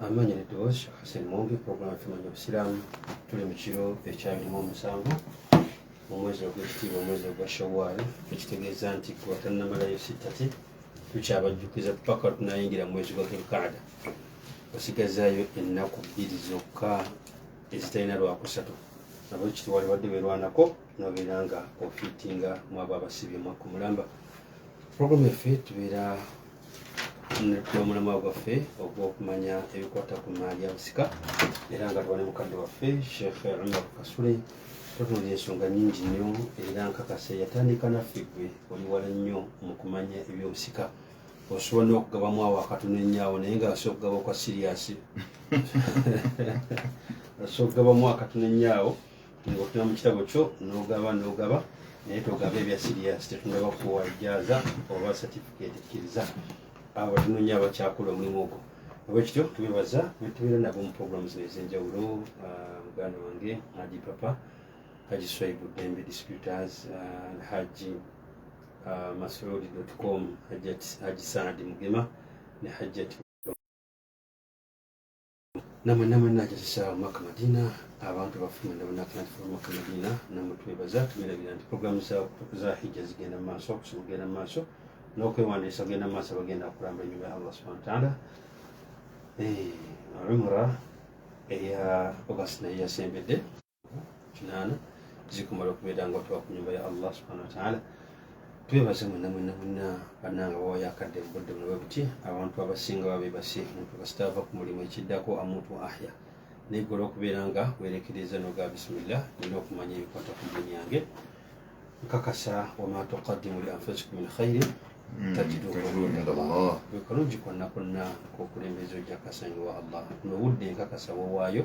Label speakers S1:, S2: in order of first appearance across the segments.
S1: amanya ne Dawes Sheikh Hassan Mwombi program tumanya obusiraamu tuli mu kiro ekyabirimu omusanvu mu mwezi ogw'ekitiibwa omwezi ogwa Shawwal ekitegeeza nti kuba tannamalayo sittati tukyabajjukiza paka tunayingira mu mwezi gwa Dhulqaada osigazaayo ennaku bbiri zokka ezitalina lwakusatu nabo kitiwali wadde werwanako nobeera nga ofitinga mwabo abasibye mwakku mulamba program yaffe tubeera n'omulamwa gwaffe ogw'okumanya ebikwata ku maali ya busika era nga tuba ne mukadde waffe sheekh umar kasule tutunula ensonga nyingi nnyo era nkakase yatandika naffe gwe oli wala nnyo mu kumanya ebyobusika osobola n'okugabamu awo akatono ennyawo naye nga asobola okugaba okwa siriyasi asobola okugabamu akatono ennyawo ng'otema mu kitabo kyo n'ogaba n'ogaba naye togaba ebya siriyasi tetundaba kuwa ijaaza oba satifikeeti kkiriza abo tunoonya abakyakola omulimu ogwo olwekityo tubebaza netubeera nabo mu programu zino ez'enjawulo ah, muganda wange haji papa haji swaibu dembe disputers ah, haji ah, masurudi com haji saadi mugema ne hajjati nama nama nagisisa omwaka madina abantu bafuna ndabonakanafuna omwaka madina nama twebaza tumirabira nti programu za hijja zigenda mu maaso okusoma kugenda mu maaso n'okwewandiisa kugenda mu maaso bagenda okulamba enyuma ya allah subhana wataala eh, umra eya august naye yasembedde kinaana zikumala okubeera nga watuwa ku nyumba ya allah subhana wataala twebaze mwena mwena mwena bananga bawayo akadde mubudde munawe buti abantu abasinga babebase omuntu kasita ava ku mulimu ekiddako amuntu ahya naye gwe olwokubeera nga werekereza noga bisimillah nina okumanya ebikwata ku dini yange nkakasa wama tukadimu li anfusikum min khairi hmm, tajiduwekalungi kwonna kwonna kokulembeza ojja kasanyiwa allah nobudde nkakasa wowaayo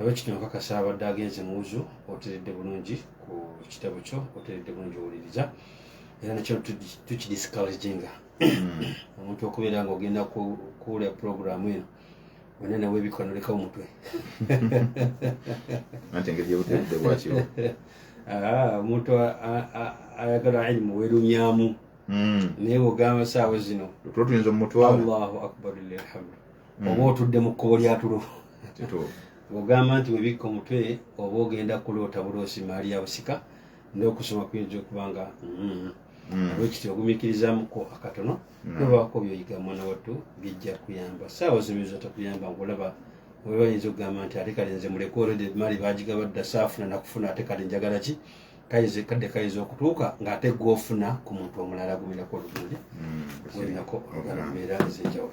S1: abekityo nkakasa abadde agenze muwuzu oteredde bulungi ku kitabo kyo oteredde bulungi owuliriza era nekyo tukidiscouraginga hmm. omuntu okubeera nga ogenda kuwula programu eno wena nawe ebika noleka omutwe
S2: ante engeri yobutedde bwakyo
S1: omuntu ayagala ilimu werumyamu hmm. naye bwogamba saawa zino tuyinza omutwala
S2: allahu akbar
S1: lilhamdu hmm. oba otudde mu kkubo lyatulo ogamba nti webikka omutwe oba ogenda kuloota buloosi maali ya busika n'okusoma kuyinza okuba nga mm, mm. olwekiti ogumikirizamuko akatono mm. nobaako byoyiga mwana wattu bijja kuyamba saawa zimizo takuyamba ngaolaba oba yinza okugamba nti ate kale nze muleke olede maali bagigaba dda saafuna nakufuna ate kale njagala ki kayinza kadde kayinza okutuuka ng'ate gwofuna ku muntu omulala gumirako oluguli gulinako olugala mbeera ezenjawulo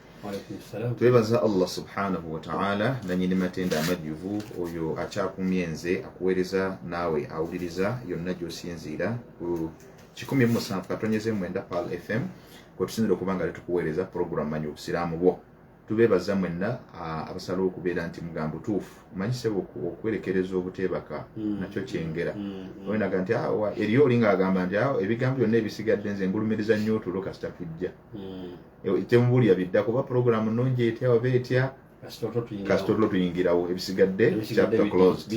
S1: twebaza allah subhanahu
S2: wataala nanyini matenda amajjuvu oyo akyakumye nze akuweereza naawe awuliriza yonna gyosinziira ku 17 katonyeze mwenda pal fm kwetusinzira okuba nga letukuweereza puroguramu manyi obusiraamu bwo tubeebaza mwenna abasalawo okubeera nti mugamba butuufu manyise okuwerekereza obuteebaka mm. nakyo kyengera mm, mm. onaga nti awa eriyo olinga agamba nti awo ebigambo byonna ebisigadde nze ngulumiriza nnyo otulo kasita tujja eh, temubulira biddako oba pulogulaamu nnungi etya oba etya kasita otulo tuyingirawo ebisigadde chapter closed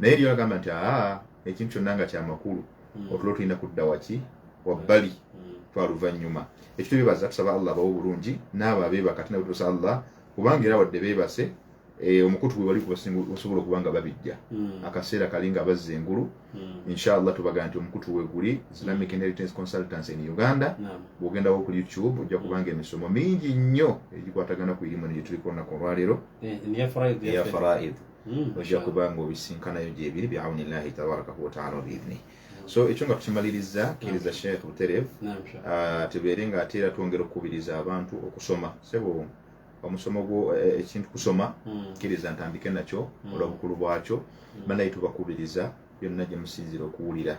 S2: naye eriyo agamba nti aa ekintu kyonna nga kyamakulu hmm. otulo tulina kudda waki wabbali hmm. twaluvannyuma ekyo tubibaza tusaba allah abawo obulungi naabo abeebaka tinabwe tusa allah kubanga era wadde beebase Eh, omukutu gwe wali osobola okuba nga babijja hmm. akaseera kali nga bazza engulu hmm. inshallah tubaga nti omukutu weguli islamic inheritance consultants in uganda bwogendawo ku youtube ojja hmm. kubanga emisomo mingi nnyo egikwatagana ku irimu negyetulikonako olwaleero eh, eya faraid ojja kuba nga obisinkanayo gyebiri biauni llahi tabarakahu wataala wabiidni so ekyo nga tukimaliriza kiriza sheikh buterev ah, tubeere nga ate era twongera okukubiriza abantu okusoma sebo omusomo gwo eh, eh, ekintu kusoma hmm. kiriza ntandike nakyo hmm. olwabukulu bwakyo hmm. banaye tubakubiriza byonna gyemusinzira okuwulira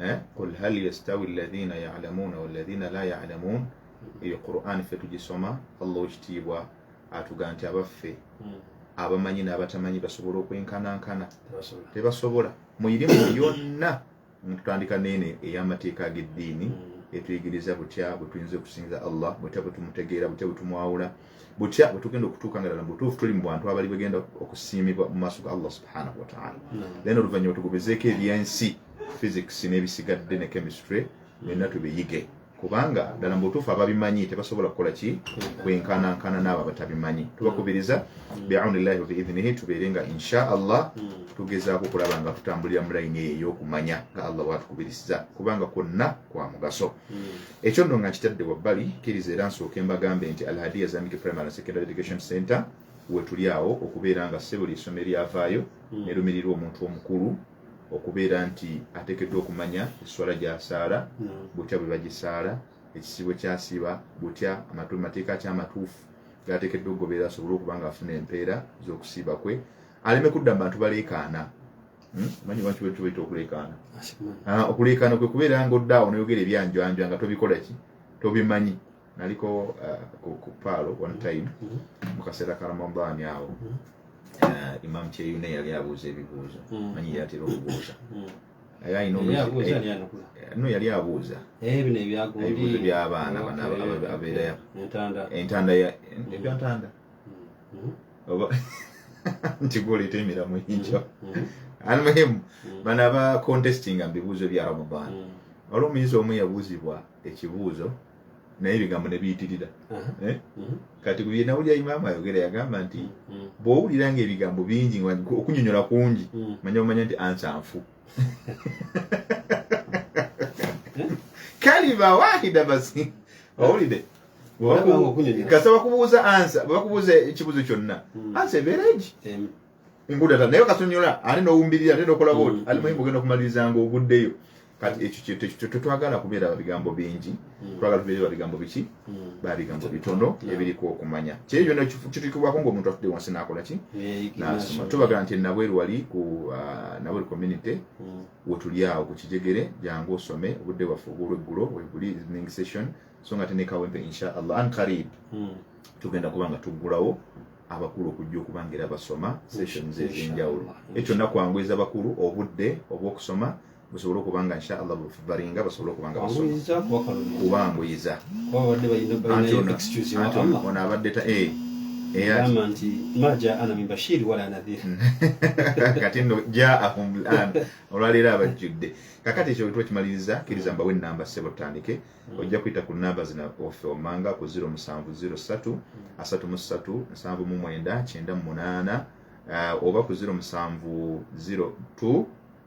S2: eh? qul hal yastawi alladhina yalamuuna walladhina la yalamuun eyo quran fe tugisoma allah wekitiibwa atuga nti abaffe abamanyi n'abatamanyi basobola okwenkanankana tebasobola muirimu yonna Tutandika neene ey'amateeka ag'eddiini mm. etuyigiriza butya bwe tuyinza okusinza Allah, butya bwe tumutegeera, butya bwe tumwawula, butya bwe tugenda okutuuka nga ddala mu butuufu tuli mu bantu abali bagenda okusiimibwa mu maaso ga Allah subhanahu wa ta'ala. Then oluvannyuma tugobezeeko eby'ensi, physics n'ebisigadde ne chemistry, byonna tubiyige. kubanga ddala mu butuufu ababimanyi tebasobola kukola ki kwenkanankana n'abo abatabimanyi tubakubiriza biaunillahi wabiidhinihi tubeere nga insha allah tugezaako okulaba nga tutambulira mu layini eyo ey'okumanya nga allah watukubiriza kubanga kwonna kwa mugaso ekyo nno nga nkitadde wabbali kkiriza era nsooke mbagambe nti alhadiya islamic primary and secondary education center wetuli awo okubeera nga sebuli essomo eryavaayo mm. nerumirirwa omuntu omukulu okubeera nti ateekeddwa okumanya esswala gy'asaala butya bwe bagisaala ekisiibo kyasiiba butya mateeka ki amatuufu gaateekeddwa okugoberera asobole okuba nga afuna empeera z'okusiiba kwe aleme kudda mu bantu baleekaana hmm? manyi lwaki bwe tubaita okuleekaana ah, okuleekaana kwe kubeera nga oddaawo n'oyogera ebyanjwanjwa nga tobikola ki tobimanyi naliko uh, ku, ku paalo one mm-hmm. time mm-hmm. mu kaseera ka ramadaani awo mm-hmm. uh, imam kyeyune yali abuuza ebibuuzo manyi yatera okubuuza no yali abuuza eh, ebibuuzo byabaana abeerayo entanda ebyantanda nti gwoleeta emiramu egyo almuhimu bana ba contestinga mu bibuuzo bya ramadaani waliwo omuyizi omu yabuuzibwa ekibuuzo naye ebigambo ne biyitirira eh? mhm. kati ku bye nawulira imaamu ayogera yagamba nti mm. bw'owulira nga ebigambo bingi okunyonyola kungi mm. manya omanya nti ansa nfu eh? kalima wahida basi eh? owulide kasaba kubuuza ansa bakubuuza ekibuzo kyonna mm. ansa ebeera egi nkuda ta naye kasonyola ate nowumbirira ate nokola mm. bwoti ali muhimu ogenda okumaliriza nga oguddeyo kati ekyo tetwagala kubeera babigambo bingi mm. twagala tubeere babigambo biki mm. babigambo bitono ebiriko okumanya kyeri byona kitukibwako ngaomuntu atudde wansi nakola ki nasoma tubagala nti nabweru wali ku uh, nabweru community wetuli awo ku kijegere jangu osome obudde bwaffe obwolweggulo webuli evening session so nga tenekawempe inshallah an karib tugenda kuba nga tuggulawo abakulu okujja okuba nga era basoma sessions ez'enjawulo ekyo nakwanguiza bakulu obudde obw'okusoma busobole okuba nga insha allah balinga basobole okuba nga basomakubanguyiza ono abadde ta eh, eh, kati no jaahum lan olwaleero abajjudde kakati ekyo wetuba kimaliriza kiriza mbawe enamba sebo tutandike ojja kuyita ku namba zina ofe omanga ku 0703 33799 ah, oba ku 0702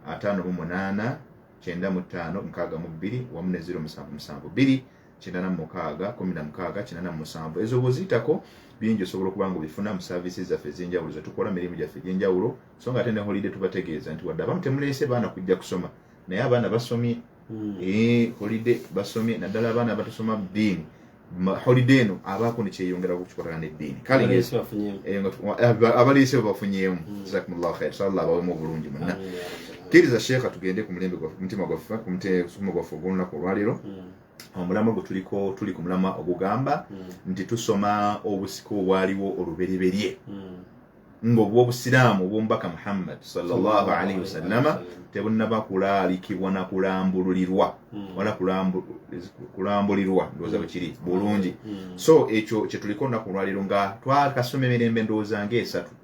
S2: ataano mu munaana kyenda mu ttaano mukaaga mu bbiri wamu ne ziro musanvu musanvu bbiri kyenda na mukaaga kumi na mukaaga kyenda na musanvu ezo bwoziyitako bingi osobola okuba nga obifuna mu services zaffe ez'enjawulo zetukola mirimu gyaffe egy'enjawulo so nga ate ne holiday tubategeeza nti wadde abamu temuleese baana kujja kusoma naye abaana basomye hmm. eh, holiday basomye naddala abaana abatasoma ddiini holiday eno abaako nekyeyongera kukikolana neddiini kale eh, abaliise bebafunyeemu hmm. jazakumullahu khair salla abawemu obulungi munna kkiriza sheekha tugende ku mulembe mutima gwaffe ku mutima gwaffe ogw'olunaku olwaleero hmm. omulamwa gwe tuliko tuli ku mulamwa ogugamba hmm. nti tusoma obusika obwaliwo olubereberye hmm. ng'obw'obusiraamu obw'omubaka muhammad salllahu alaihi wasallama tebunnaba kulaalikibwa na kulambululirwa hmm. wala kulambulirwa ndowooza bwe kiri hmm. bulungi hmm. so ekyo kye tuliko nnaku olwaliro nga twakasoma emirembe ndowooza ng'esatu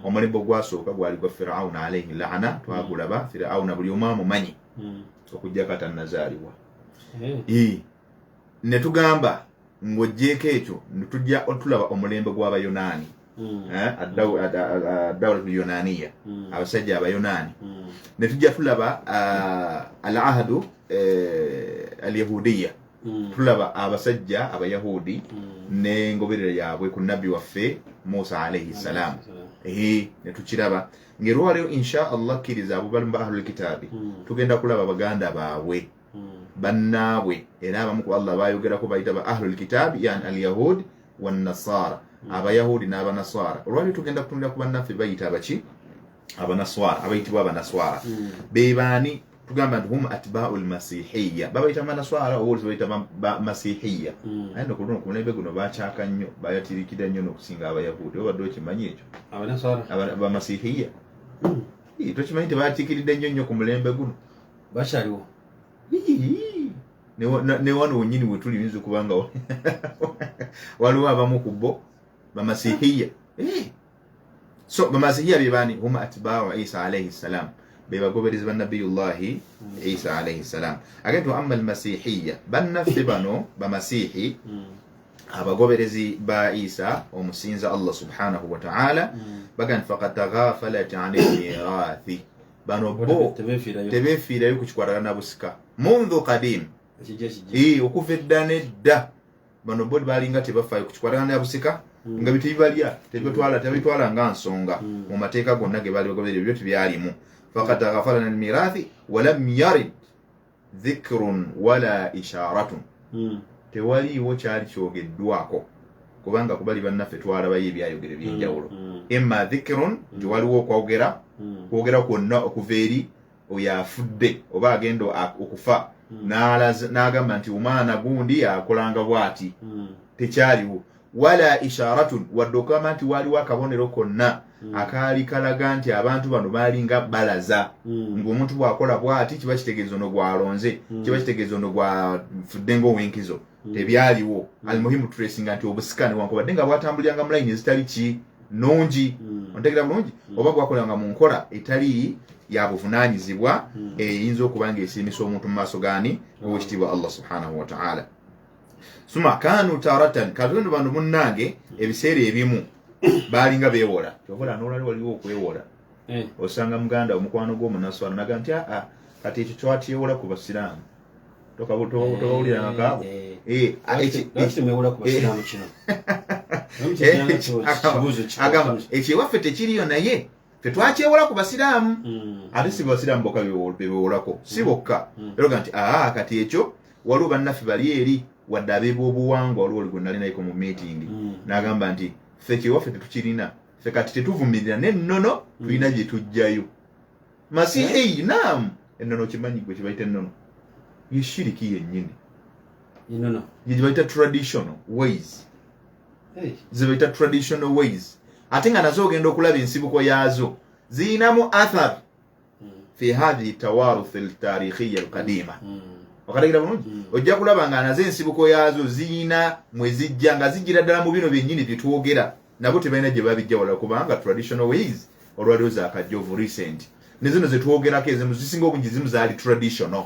S2: omulembe ogwasooka gwali gwa firawuna alaihi laana twagulaba firawuna buli omu amumanyi okujjako atannazaalibwa eh. ne tugamba ng'oggyeeko ekyo tujja otulaba omulembe gw'abayonaani hmm. eh, adawlatu yonaniya hmm. abasajja abayonaani hmm. ne tujja tulaba ah, al ahadu eh, al yahudiya tulaba abasajja abayahudi n'engoberera yaabwe ku nabbi waffe musa alaihi ssalaamu ehe netukiraba ngaerwaleo insha allah kkiriza abo balimu ba ahlulkitaabi hmm. tugenda kulaba baganda baabwe bannaabwe era abamu ku allah bayogerako bayita ba ahlulkitaabi yani alyahud wanasaara abayahudi n'abanaswara olwali tugenda kutunira ku bannaffe bayita abaki abanaswara abayitibwa abanaswara hmm. bebaani tugamba nti hum atbau lmasihiya babayita banaswara oba olisi bayita masihiya hmm. aye no kuluno kumulembe guno bakyaka nnyo bayatirikira nnyo nokusinga abayahudi obadde okimanyi ekyo
S1: bamasihiya
S2: hmm. tokimanyi tebatikiridde nnyo nnyo ku mulembe guno bakyaliwo ne wano wenyini wetuli yinza okuba nga waliwo abamu ku bo bamasihiya eh. so bamasihiya bebani huma atbau isa alaihi ssalam bebagoberezi banabiyullahi hmm. isa alaihi ssalam age nti waama almasihiya bannaffe bano bamasihi hmm. abagoberezi ba isa omusinza allah subhanahu wataala hmm. baga nti fakad tagafalat ani lmirathi bano bo tebefiirayo ku kikwatagana na busika mundhu kadim okuva edda nedda bano bo balinga tebafaayo ku kikwatagana na busika hmm. nga bitebibalya tebitwala tebitwala nga nsonga hmm. mu mateeka gonna ge baali bagoberera ebyo tebyalimu fakad ghafarana almirathi walam yarid dhikrun wala isharatun hmm. tewaliiwo kyali kyogeddwako kubanga kubali bannaffe twalabayo ebyayogero ebyenjawulo hmm, hmm. emma dhikrun nti waliwo okwogera kwogera kwonna okuva eri oyo afudde oba agenda okufa n'agamba nti omwana gundi akolanga bwati tekyaliwo wala isharatun wadde okugamba nti waaliwo akabonero konna hmm. akaali kalaga nti abantu bano baalinga balaza hmm. ngaomuntu bwakola bwati kiba kitegeeza ono gwalonze hmm. kiba kitegeeza ono gwafudde ngaowenkizo tebyaliwo almuhimu turesinga nti obusika newankubadde nga bwatambuliranga mulayini ezitali ki nungi ontegera bulungi oba bwakolanga mu nkola etali yabuvunanyizibwa eyinza okuba nga esiimisa omuntu mu maaso gani owekitiibwa allah subhanahu wataala suma kanu taratan katonda bano munnange ebiseera ebimu baalinga beewola kyovola nolali waliwo okwewola eh. osanga muganda omukwano gwomunaswala naga nti aa ah, ah, kati ekyo twatyewola ku basiraamu tokawulirangakaabo agamba ekyewaffe tekiriyo naye tetwakyewola ku basiraamu mm. ate si basiraamu bokka bebewolako si mm. bokka mm. eroga nti aa kati ekyo waliwo bannaffe bali eri wadde abeebwobuwangwa waliwo oligwe nalinayiko mu meetingi n'agamba nti ffe kyewaffe tetukirina ffe kati tetuvumirira n'ennono tulina gye tujjayo masihi eh? naamu ennono kimanyi gwe kibayita ennono yeshiriki yennyini gyebayita traditional ways zebayita traditional ways ate nga nazo ogenda okulaba ensibuko yaazo ziyinamu athar hmm. fi hathihi tawaruth ltarikhiya alqadima hmm. okatagira bulungi hmm. ojja kulaba nga nazo ensibuko yaazo ziyina mwezijja nga zijjira ddala mu bino byennyini byetwogera nabo tebalina gye babijja wala kubanga traditional ways olwaliwo zakajjovu recent nezino zetwogerako ezimu zisinga obungi zimu zaali traditional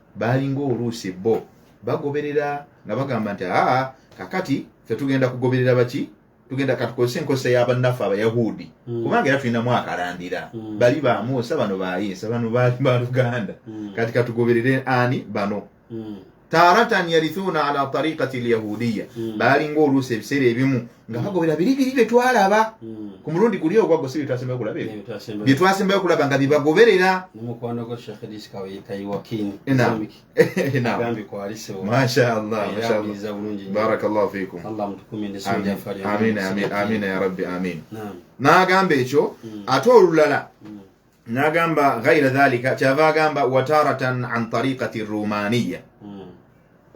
S2: baalinga oluusi bo bagoberera nga bagamba nti aa kakati fe tugenda kugoberera baki tugenda katukozesa enkozesa y'abannaffe abayahudi mm. kubanga era tulinamu akalandira mm. bali ba musa bano bayinsa bano baali ba luganda mm. kati katugoberere ani bano mm. taratan yarithuna ala tariqati lyahudiya mm. baalinga oluusi ebiseera ebimu nga bagobera biri biri bye twalaba hmm. ku mulundi guli ogwagwo si byetwasembayo okulaba bye twasembayo okulaba nga byebagoberera mashaallahbarakallahu
S1: ya
S2: rabbi amin n'agamba ekyo hmm. ate olulala hmm. nagamba ghaira dhalika kyava agamba wataratan an tariqati rumaniya mm.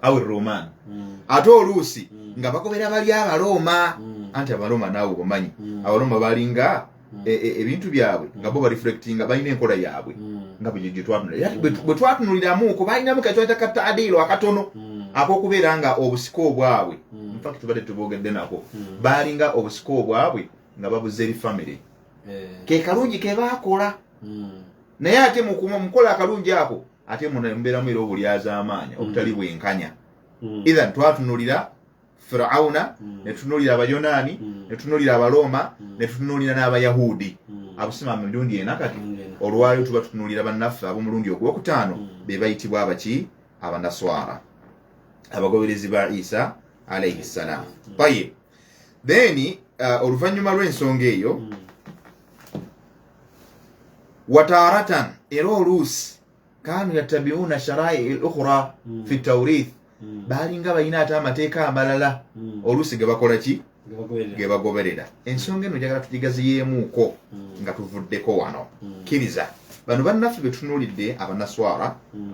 S2: au ruman mm. ate oluusi mm. nga bakobera bali abaroma mm. anti abaroma naawe obamanyi mm. abaroma balinga mm. e, e, ebintu e, byabwe mm. nga bo bareflectinga balina enkola yaabwe mm. nga bwetwatunulira mm. bwe twatunuliramuko balinamu katwata ka taadiiro akatono mm. akokubeera nga obusika obwabwe mm. infact tubadde tubogedde nako mm. balinga obusika obwabwe nga babuza eri famire eh. ke kalungi ke baakola hmm. naye ate mukola akalungi ako ate mubeeramu era obulyazaamaanya hmm. obutali bwenkanya hmm. ethan twatunulira firauna netunulira abayonaani netunulira abalooma netutunulira n'abayahudi abusima mirundi ena kati olwaliro tuba tutunulira bannaffe ab'omulundi ogwokutaano be bayitibwa abaki abanaswara abagoberezi ba isa alaihi ssalaamu tayib then uh, oluvannyuma lw'ensonga eyo mm. wataratan era oluusi kanu yattabiuna sharai lukhra mm. fi taurith mm. baalinga balina ate amateeka amalala mm. oluusi ge bakola ki ge bagoberera ensonga eno njagala tugigaziyeemuuko mm. nga tuvuddeko wano mm. kkiriza mm. bano bannaffe betunulidde abanaswara mm.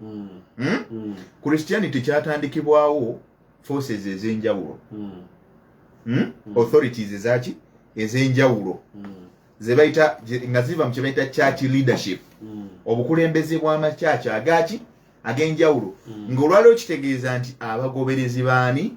S2: mm. Hmm? Mm. christianity kyatandikibwawo forces ezenjawulo mm. mm? mm. authorities ezaki ezenjawulo mm. zebaita nga ziva mu kyebaita church leadership mm. obukulembeze bwamakyaki agaki agenjawulo mm. ngaolwaliwo kitegeeza nti abagoberezi baani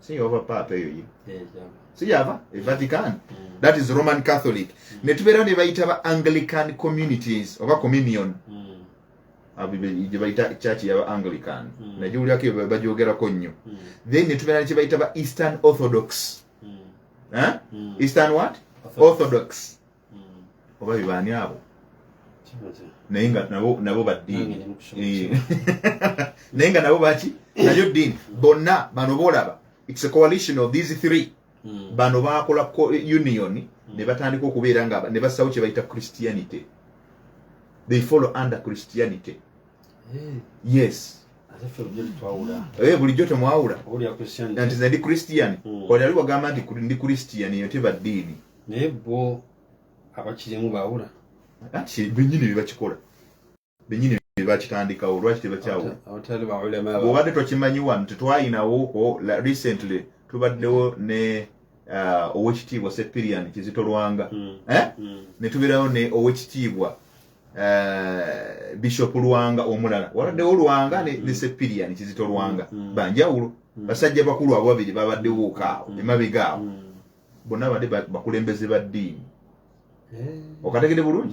S2: si yova paapa eyo ye si yava e vatican mm. that is roman catholic mm. ne tubeera ne bayita ba anglican communities oba communion mm. gye bayita church yaba anglican mm. naye giwulirako bagyogerako nnyo mm. then ne tubeera ne kye bayita ba eastern orthodox mm. eh? mm. eastern what orthodox, orthodox. oba bibaani abo naye nga nabo baddiini eh. naye nga nabo baki nayo ddiini bonna bano boolaba its a coalition of these three hmm. bano baakola union hmm. ne batandika okubeera nga ne bassawo kye bayita christianity they follow under christianity yes Eh, bulijjo temwawula nti ndi christian hmm. oli ali wagamba nti ndi christian eyo teba ddiini naye bo
S1: abakirimu bawula anti benyini
S2: bebakikola benyini bebakitandikawo lwaki tebakyawulaobadde tokimanyi wano tetwayinawoko recently tubaddewo ne uh, owekitiibwa sepirian kizitolwanga hmm. Eh? Hmm. netubeerawo ne owekitiibwa eh, bishop lwanga omulala waladdewo lwanga ne mm. sepirian kizito lwanga mm. banjawulo mm. basajja bakulu abo babiri babaddewo okaawo emabega awo bonna bade bakulembeze ba ddiini eh. okategede bulungi